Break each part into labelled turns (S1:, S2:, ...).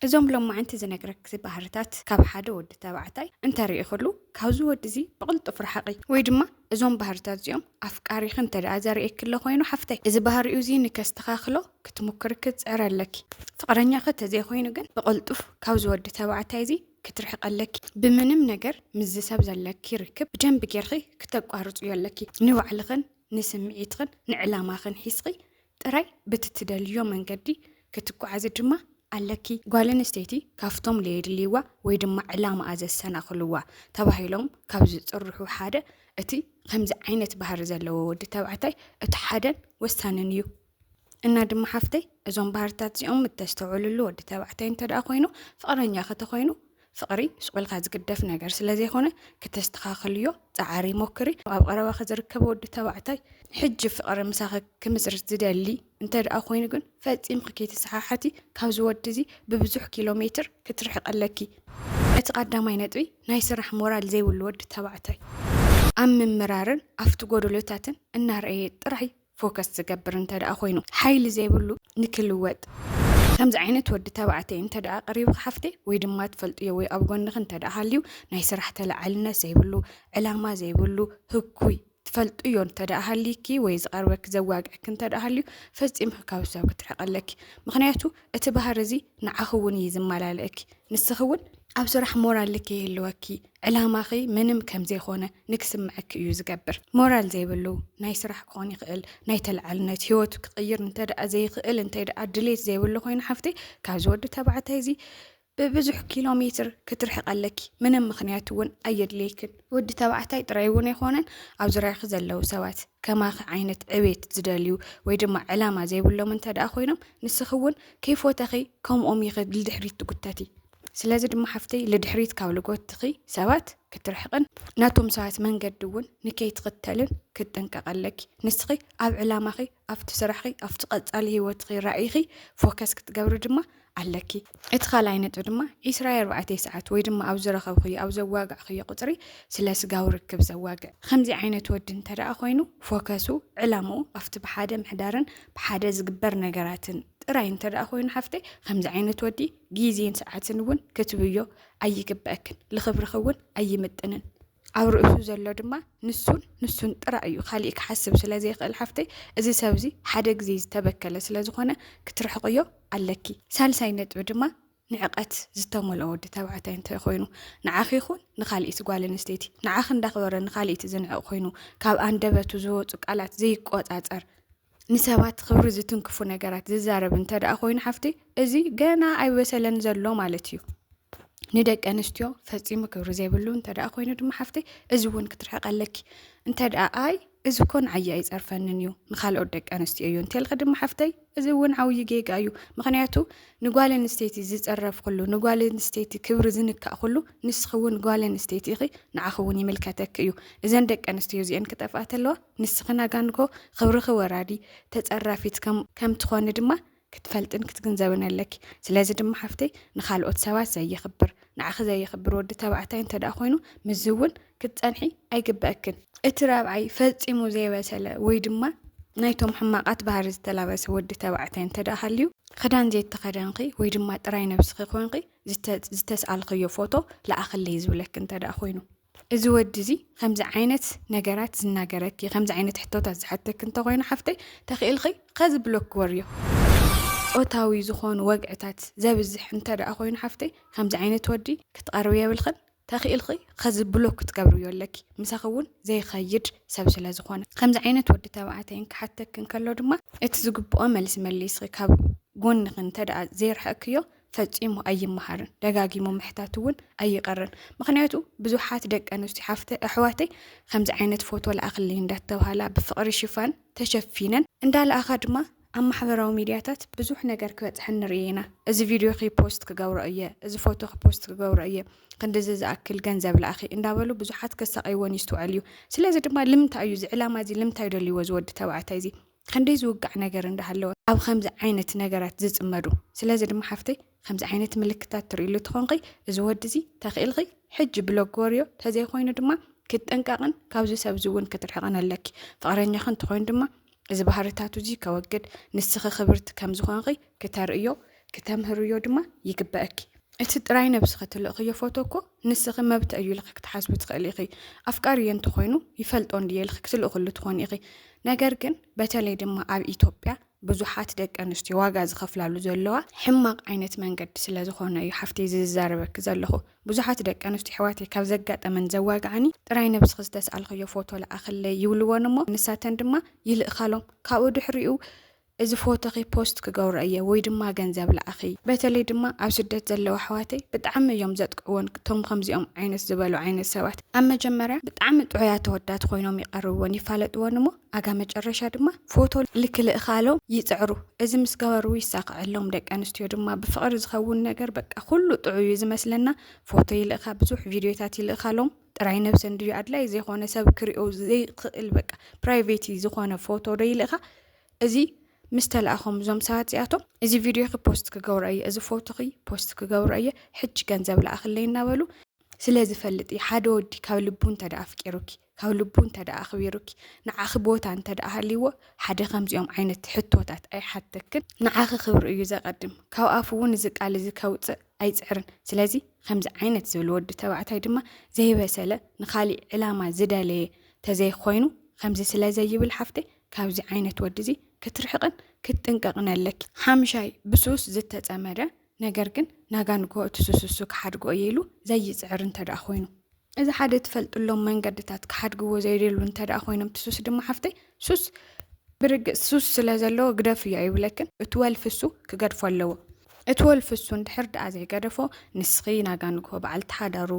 S1: እዞም ሎማዕንቲ ዝነግረኪ ባህርታት ካብ ሓደ ወዲ ተባዕታይ እንተሪኢክሉ ካብዚ ወዲ እዚ ብቅልጡፍ ርሓቂ ወይ ድማ እዞም ባህርታት እዚኦም ኣፍቃሪኪ እንተደኣ ዘሪኤኪ ኣሎ ኮይኑ ሓፍተይ እዚ ባህሪኡ እዚ ንከስተካክሎ ክትሙክሪ ክትፅዕሪ ኣለኪ ፍቅረኛኪ ተዘይኮይኑ ግን ብቅልጡፍ ካብዚ ወዲ ተባዕታይ እዚ ክትርሕቂ ኣለኪ ብምንም ነገር ምስዚ ሰብ ዘለኪ ርክብ ብደንቢ ጌርኪ ክተቋርፅዮ ኣለኪ ንባዕልክን ንስምዒትክን ንዕላማክን ሒዝኪ ጥራይ ብትትደልዮ መንገዲ ክትጓዓዚ ድማ ኣለኪ። ጓለንስተይቲ ካብቶም ለየድልይዋ ወይ ድማ ዕላማኣ ዘሰናኽልዋ ተባሂሎም ካብ ዝፅርሑ ሓደ እቲ ከምዚ ዓይነት ባህሪ ዘለዎ ወዲ ተባዕታይ እቲ ሓደን ወሳንን እዩ። እና ድማ ሓፍተይ እዞም ባህርታት እዚኦም እተስተውዕልሉ ወዲ ተባዕታይ እንተደኣ ኮይኑ ፍቕረኛኺ ተኾይኑ ፍቕሪ ሱቕ ኢልካ ዝግደፍ ነገር ስለ ዘይኮነ ክተስተኻኽልዮ ጻዓሪ ሞክሪ። ኣብ ቐረባኺ ዝርከብ ወዲ ተባዕታይ ሕጂ ፍቕሪ ምሳኺ ክምስርት ዝደሊ እንተ ደኣ ኮይኑ ግን ፈጺምኺ ከይትሰሓሓቲ ካብዚ ወዲ እዚ ብብዙሕ ኪሎ ሜትር ክትርሕቒ ኣለኪ። እቲ ቐዳማይ ነጥቢ ናይ ስራሕ ሞራል ዘይብሉ ወዲ ተባዕታይ ኣብ ምምራርን ኣብቲ ጎደሎታትን እናረኣየ ጥራይ ፎከስ ዝገብር እንተ ደኣ ኮይኑ ሓይሊ ዘይብሉ ንክልወጥ ከምዚ ዓይነት ወዲ ተባዕተይ እንተ ደኣ ቀሪብኺ ሓፍተይ ወይ ድማ ትፈልጥዮ ወይ ኣብ ጎንኺ እንተ ደኣ ሃልዩ ናይ ስራሕ ተላዓልነት ዘይብሉ ዕላማ ዘይብሉ ህኩይ ትፈልጥዮ እንተ ደኣ ሃሊኪ ወይ ዝቐርበኪ ዘዋግዕኪ እንተ ደኣ ሃልዩ ፈጺምኪ ካብ ሰብ ክትርሕቂ ኣለኪ ምክንያቱ እቲ ባህሪ እዚ ንዓኺ እውን እዩ ዝመላለእኪ ንስኺ እውን ኣብ ስራሕ ሞራልኪ ይህልወኪ ዕላማኺ ምንም ከም ዘይኮነ ንክስምዐኪ እዩ ዝገብር። ሞራል ዘይብሉ ናይ ስራሕ ክኾን ይኽእል ናይ ተለዓልነት ሂወቱ ክቕይር እንተድኣ ዘይኽእል እንተድኣ ድሌት ዘይብሉ ኮይኑ ሓፍተይ ካብዚ ወዲ ተባዕታይ እዚ ብብዙሕ ኪሎ ሜትር ክትርሕቂ ኣለኪ ምንም ምኽንያት እውን ኣየድልየክን። ወዲ ተባዕታይ ጥራይ እውን ኣይኮነን ኣብ ዙርያኺ ዘለዉ ሰባት ከማኺ ዓይነት ዕቤት ዝደልዩ ወይ ድማ ዕላማ ዘይብሎም እንተድኣ ኮይኖም ንስኺ እውን ከይፎተኺ ከምኦም ኢኺ ንድሕሪት ትጉተቲ። ስለዚ ድማ ሓፍተይ ልድሕሪት ካብ ልጎትኺ ሰባት ክትርሕቕን ናቶም ሰባት መንገዲ እውን ንከይትኽተልን ክትጥንቀቕ ኣለኪ። ንስኺ ኣብ ዕላማኺ፣ ኣብቲ ስራሕኺ፣ ኣብቲ ቀጻሊ ህይወትኺ፣ ራእይኺ ፎከስ ክትገብሪ ድማ ኣለኪ። እቲ ካልኣይ ነጥቢ ድማ ዒስራ ኣርባዕተ ሰዓት ወይ ድማ ኣብ ዝረኸብኽዮ ኣብ ዘዋጋዕኽዮ ቁጽሪ ስለ ስጋዊ ርክብ ዘዋግዕ ከምዚ ዓይነት ወዲ እንተደኣ ኮይኑ ፎከሱ ዕላምኡ ኣብቲ ብሓደ ምሕዳርን ብሓደ ዝግበር ነገራትን ጥራይ እንተደኣ ኮይኑ ሓፍተይ ከምዚ ዓይነት ወዲ ግዜን ሰዓትን እውን ክትብዮ ኣይግበአክን ልኽብርኺ እውን ኣይምጥንን ኣብ ርእሱ ዘሎ ድማ ንሱን ንሱን ጥራይ እዩ ካሊእ ክሓስብ ስለ ዘይኽእል ሓፍተይ እዚ ሰብ እዚ ሓደ ግዜ ዝተበከለ ስለ ዝኾነ ክትርሕቕዮ ኣለኪ ሳልሳይ ነጥቢ ድማ ንዕቐት ዝተመልኦ ወዲ ተባዕታይ እንታይ ኮይኑ ንዓኺ ይኹን ንካልኢት ጓል ኣንስተይቲ ንዓኺ እንዳኽበረ ንካልኢት ዝንዕቕ ኮይኑ ካብ ኣንደበቱ ዝወፁ ቃላት ዘይቆፃፀር ንሰባት ክብሪ ዝትንክፉ ነገራት ዝዛረብ እንተ ደኣ ኮይኑ ሓፍቲ እዚ ገና ኣይበሰለን ዘሎ ማለት እዩ ንደቂ ኣንስትዮ ፈፂሙ ክብሪ ዘይብሉ እንተ ደኣ ኮይኑ ድማ ሓፍቲ እዚ እውን ክትርሕቀ ኣለኪ እንተ ደኣ ኣይ እዚ እኮ ንዓየ ኣይፀርፈንን እዩ ንካልኦት ደቂ ኣንስትዮ እዩ እንተልኪ ድማ ሓፍተይ እዚ እውን ዓብዪ ጌጋ እዩ ምክንያቱ ንጓል ኣንስተይቲ ዝፀረፍ ኩሉ ንጓል ኣንስተይቲ ክብሪ ዝንካእ ኩሉ ንስኺ እውን ጓል ኣንስተይቲ ኢኺ ንዓኺ እውን ይምልከተኪ እዩ እዘን ደቂ ኣንስትዮ እዚአን ክጠፍኣ ተለዋ ንስኺ ናጋንጎ ኽብርኺ ወራዲ ተጸራፊት ከም ትኾኒ ድማ ክትፈልጥን ክትግንዘብን ኣለኪ። ስለዚ ድማ ሓፍተይ ንኻልኦት ሰባት ዘየኽብር ንዓኺ ዘየኽብር ወዲ ተባዕታይ እንተ ደኣ ኮይኑ ምስዚ እውን ክትጸንሒ ኣይግበእክን። እቲ ራብዓይ ፈጺሙ ዘይበሰለ ወይ ድማ ናይቶም ሕማቓት ባህሪ ዝተላበሰ ወዲ ተባዕታይ እንተ ደኣ ሃልዩ ኽዳን ዘይተኸደንኺ ወይ ድማ ጥራይ ነብስኺ ኮንኺ ዝተስኣልኽዮ ፎቶ ለኣኽለይ ዝብለኪ እንተ ደኣ ኮይኑ እዚ ወዲ እዚ ከምዚ ዓይነት ነገራት ዝናገረኪ ከምዚ ዓይነት ሕቶታት ዝሓተኪ እንተኾይኑ ሓፍተይ ተኽኢልኺ ከዚ ብሎክ ክወርዮ ፆታዊ ዝኾኑ ወግዕታት ዘብዝሕ እንተ ደኣ ኮይኑ ሓፍተይ ከምዚ ዓይነት ወዲ ክትቐርብ የብልኽን ተኽኢልኺ ከዚ ብሎክ ክትገብርዮ ኣለኪ ምሳኺ እውን ዘይኸይድ ሰብ ስለ ዝኾነ ከምዚ ዓይነት ወዲ ተባዕታይን ክሓተክ እንከሎ ድማ እቲ ዝግብኦ መልሲ መሊስኺ ካብ ጎንኺ እንተ ደኣ ዘይርሕቕክዮ ፈፂሙ ኣይመሃርን ደጋጊሙ ምሕታት እውን ኣይቀርን ምክንያቱ ብዙሓት ደቂ ኣንስትዮ ሓፍተ ኣሕዋተይ ከምዚ ዓይነት ፎቶ ለኣክልይ እንዳተባሃላ ብፍቅሪ ሽፋን ተሸፊነን እንዳለኣኻ ድማ ኣብ ማሕበራዊ ሚድያታት ብዙሕ ነገር ክበፅሐን ንርኢ ኢና እዚ ቪድዮ ፖስት ክገብሮ እየ እዚ ፎቶ ፖስት ክገብሮ እየ ክንዲዚ ዝኣክል ገንዘብ ለኣኺ እንዳበሉ ብዙሓት ከሳቀይዎን ይስትውዐል እዩ ስለዚ ድማ ልምንታይ እዩ እዚ ዕላማ እዚ ልምንታይ ደልይዎ ዝወዲ ተባዕታይ እዚ ከንደይ ዝውጋዕ ነገር እንዳሃለወ ኣብ ከምዚ ዓይነት ነገራት ዝፅመዱ ስለዚ ድማ ሓፍተይ ከምዚ ዓይነት ምልክታት ትርእሉ ትኾንኺ እዚ ወዲ እዚ ተኽኢልኺ ሕጂ ብሎግ ወርዮ ተዘይኮይኑ ድማ ክትጥንቀቕን ካብዚ ሰብዚ እውን ክትርሕቕን ኣለኪ ፍቕረኛኺ እንትኾይኑ ድማ እዚ ባህርታቱ እዚ ከወግድ ንስኺ ክብርቲ ከም ዝኾንኺ ክተርእዮ ክተምህርዮ ድማ ይግበእኪ። እቲ ጥራይ ነብስኺ ትልእኽዮ ፎቶ እኮ ንስኺ መብት እዩ ኢልኺ ክትሓስቢ ትኽእሊ ኢኺ። ኣፍቃሪዮ እንተኾይኑ ይፈልጦ እንድየ ኢልኺ ክትልእኽሉ ትኾኒ ኢኺ። ነገር ግን በተለይ ድማ ኣብ ኢትዮጵያ ብዙሓት ደቂ ኣንስትዮ ዋጋ ዝኸፍላሉ ዘለዋ ሕማቕ ዓይነት መንገዲ ስለ ዝኾነ እዩ ሓፍተይ እዚ ዝዛረበኪ ዘለኹ። ብዙሓት ደቂ ኣንስትዮ ኣሕዋተይ ካብ ዘጋጠመን ዘዋግዓኒ ጥራይ ነብስኺ ዝተስኣልኽዮ ፎቶ ልኣኽለይ ይብልወን እሞ ንሳተን ድማ ይልእኻሎም። ካብኡ ድሕሪኡ እዚ ፎቶኺ ፖስት ክገብሮ እየ ወይ ድማ ገንዘብ ላኣኺ በተለይ ድማ ኣብ ስደት ዘለዉ ኣሕዋተይ ብጣዕሚ እዮም ዘጥቅዕዎን ቶም ከምዚኦም ዓይነት ዝበሉ ዓይነት ሰባት ኣብ መጀመርያ ብጣዕሚ ጥዑያት ተወዳት ኮይኖም ይቀርብዎን ይፋለጥዎን እሞ ኣጋ መጨረሻ ድማ ፎቶ ልክልእኻሎም ይፅዕሩ እዚ ምስ ገበሩ ይሳክዐሎም ደቂ ኣንስትዮ ድማ ብፍቅሪ ዝኸውን ነገር በቃ ኩሉ ጥዑይ እዩ ዝመስለና ፎቶ ይልእኻ ብዙሕ ቪድዮታት ይልእኻሎም ጥራይ ነብሰን ድዩ ኣድላይ ዘይኮነ ሰብ ክሪኦ ዘይክእል በቃ ፕራይቬቲ ዝኾነ ፎቶ ዶ ይልእኻ እዚ ምስ ተላእኹም እዞም ሰባት እዚኣቶም እዚ ቪድዮኺ ፖስት ክገብሮ እየ እዚ ፎቶኺ ፖስት ክገብሮ እየ ሕጂ ገንዘብ ለኣኽለይ እናበሉ ስለ ዝፈልጥ እዩ ሓደ ወዲ ካብ ልቡ እንተ ደኣ ኣፍቂሩኪ ካብ ልቡ እንተ ደኣ ኣኽቢሩኪ ንዓኺ ቦታ እንተ ደኣ ሃልይዎ ሓደ ከምዚኦም ዓይነት ሕቶታት ኣይሓተክን ንዓኺ ክብሪ እዩ ዘቐድም ካብ ኣፉ እውን እዚ ቃል እዚ ከውፅእ ኣይፅዕርን ስለዚ ከምዚ ዓይነት ዝብል ወዲ ተባዕታይ ድማ ዘይበሰለ ንካሊእ ዕላማ ዝደለየ ተዘይኮይኑ ከምዚ ስለ ዘይብል ሓፍተይ ካብዚ ዓይነት ወዲ እዚ ክትርሕቕን ክትጥንቀቕን ኣለኪ። ሓምሻይ፣ ብሱስ ዝተጸመደ ነገር ግን ናጋ ንግሆ እቲ ሱስ እሱ ክሓድጎ እየ ኢሉ ዘይጽዕር እንተደኣ ኮይኑ፣ እዚ ሓደ ትፈልጥሎም መንገድታት ክሓድግዎ ዘይደሉ እንተደኣ ኮይኖም እቲ ሱስ ድማ ሓፍተይ ሱስ ብርግጽ ሱስ ስለ ዘለዎ ግደፍዮ ኣይብለክን እቲ ወልፊ እሱ ክገድፎ ኣለዎ። እቲ ወልፊ እሱ እንድሕር ደኣ ዘይገደፎ ንስኺ ናጋ ንግሆ በዓል ተሓዳሩ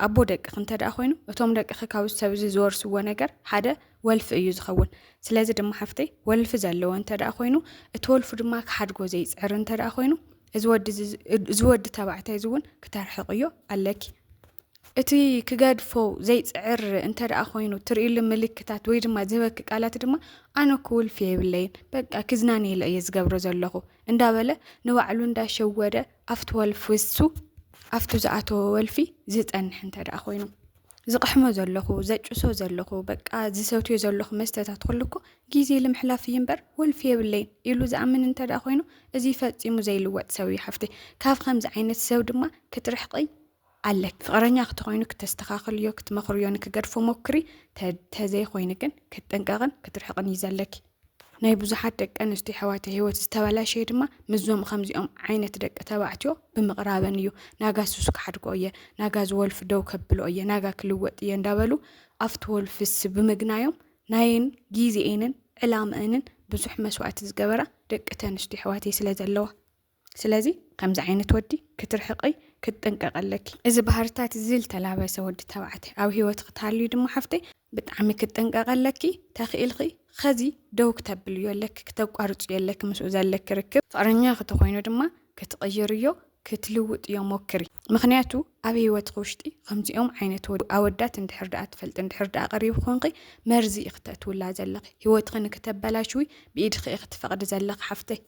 S1: ኣቦ ደቅኺ እንተደኣ ኮይኑ እቶም ደቅኺ ካብ ሰብ እዚ ዝወርስዎ ነገር ሓደ ወልፊ እዩ ዝኸውን ስለዚ ድማ ሓፍተይ ወልፊ ዘለዎ እንተ ደኣ ኮይኑ እቲ ወልፉ ድማ ክሓድጎ ዘይፅዕር እንተ ደኣ ኮይኑ እዚ ወዲ እዚ- እዚ- እዚ ወዲ ተባዕታይ እዚ እውን ክተርሕቕዮ ኣለኪ እቲ ክገድፎ ዘይፅዕር እንተ ደኣ ኮይኑ ትርእሉ ምልክታት ወይ ድማ ዝህበኪ ቃላት ድማ ኣነ እኮ ውልፊ የብለይን በቃ ክዝናነየለ እየ ዝገብሮ ዘለኹ እንዳበለ ንባዕሉ እንዳሸወደ ኣብቲ ወልፊ እሱ ኣብቲ ዝኣተወ ወልፊ ዝፀንሕ እንተ ደኣ ኮይኑ ዝቕሕሞ ዘለኹ ዘጭሶ ዘለኹ በቃ ዝሰትዮ ዘለኹ መስተታት ኩሉ እኮ ግዜ ልምሕላፍ እዩ እምበር ወልፊ የብለይን ኢሉ ዝኣምን እንተ ደኣ ኮይኑ እዚ ፈጺሙ ዘይልወጥ ሰብ እዩ ሓፍቲ ካብ ከምዚ ዓይነት ሰብ ድማ ክትርሕቂ ኣለክ ፍቕረኛ ክትኮይኑ ክተስተኻኽልዮ ክትመኽርዮ ንክገድፎ ሞክሪ ተዘይኮይኑ ግን ክትጥንቀቕን ክትርሕቕን እዩ ዘለኪ ናይ ብዙሓት ደቂ ኣንስትዮ ኣሕዋተ ህይወት ዝተበላሸየ ድማ ምስዞም ከምዚኦም ዓይነት ደቂ ተባዕትዮ ብምቕራበን እዩ ናጋ ሱስ ክሓድጎ እየ ናጋ ዝወልፊ ደው ከብሎ እየ ናጋ ክልወጥ እየ እንዳበሉ ኣብቲ ወልፍስ ብምግናዮም ናየን ግዜኤንን ዕላምአንን ብዙሕ መስዋእቲ ዝገበራ ደቂ ተንስትዮ ኣሕዋተይ ስለ ዘለዋ ስለዚ ከምዚ ዓይነት ወዲ ክትርሕቒ ክትጥንቀቒ ኣለኪ። እዚ ባህርታት እዚ ዝተላበሰ ወዲ ተባዕታይ ኣብ ሂወትኺ ተሃልዩ ድማ ሓፍተይ ብጣዕሚ ክትጥንቀቒ ኣለኪ። ተኺኢልኺ ኸዚ ደው ክተብልዮ ኣለኪ ክተቋርጽዮ ኣለኪ ምስኡ ዘለኪ ርክብ። ፍቕረኛኺ ተኾይኑ ድማ ክትቕይርዮ ክትልውጥዮ ሞክሪ። ምኽንያቱ ኣብ ሂወትኺ ውሽጢ ከምዚኦም ዓይነት ኣወዳት እንድሕር ደኣ ትፈልጢ እንድሕር ደኣ ቀሪቡ ኮንኺ መርዚ ኢኺ ተእትውላ ዘለኺ። ሂወትኺ ንክተበላሽዊ ብኢድኺ ኢኺ ትፈቕዲ ዘለኺ ሓፍተይ።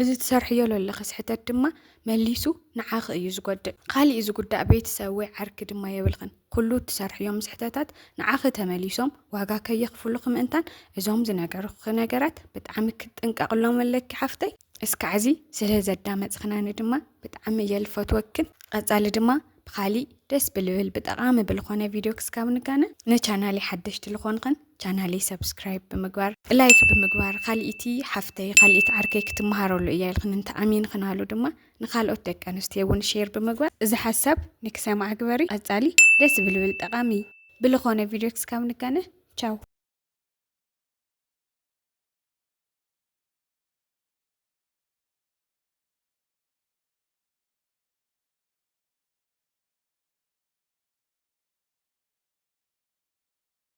S1: እዚ ትሰርሕዮ ለለኺ ስሕተት ድማ መሊሱ ንዓኺ እዩ ዝጎድእ። ካሊእ ዝጉዳእ ቤተሰብ ወይ ዓርኪ ድማ የብልኽን። ኩሉ እትሰርሕዮም ስሕተታት ንዓኺ ተመሊሶም ዋጋ ከየኽፍሉኺ ምእንታን እዞም ዝነገርኹኺ ነገራት ብጣዕሚ ክትጥንቀቕሎም ኣለኪ ሓፍተይ። እስካዕዚ ስለ ዘዳመፅኽናኒ ድማ ብጣዕሚ እየ ልፈትወክን። ቐፃሊ ድማ ብኻሊእ ደስ ብልብል ብጠቓሚ ብልኾነ ቪድዮ ክስካብ ንጋነ። ንቻናለይ ሓደሽቲ ልኾንኽን ቻናለይ ሰብስክራይብ ብምግባር ላይክ ብምግባር ካልኢቲ ሓፍተይ ካልኢቲ ዓርከይ ክትመሃረሉ እያ ኢልክን እንተ ኣሚንክናሉ ድማ ንካልኦት ደቂ ኣንስትዮ እውን ሼር ብምግባር እዚ ሓሳብ ንክሰምዓ ግበሪ ቀጻሊ ደስ ብልብል ጠቓሚ ብልኾነ ቪድዮ ክስካብ ንጋነ ቻው